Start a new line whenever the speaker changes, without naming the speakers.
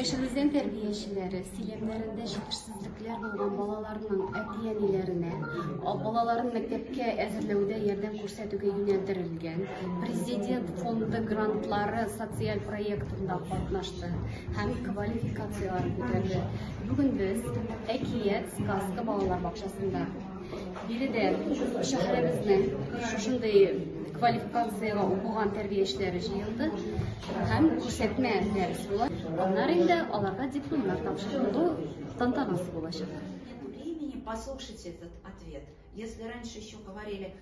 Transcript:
Яшелүзән тәрбиячеләре сөйләмнәрендә җитешсезлекләр булган балаларның әти-әниләренә балаларын мәктәпкә әзерләүдә ярдәм күрсәтүгә юнәлдерелгән Президент фонды грантлары социаль проектында катнашты һәм квалификацияләрен күтәрде. Бүген без Әкият сказка балалар бакчасында Биредә шәһәребезнең шушындый квалификациягә укыган тәрбиячеләре җыелды һәм күрсәтмә дәрес була. Аннары инде аларга дипломнар тапшырылу тантанасы булачак. Времени
послушать этот ответ. Если раньше еще говорили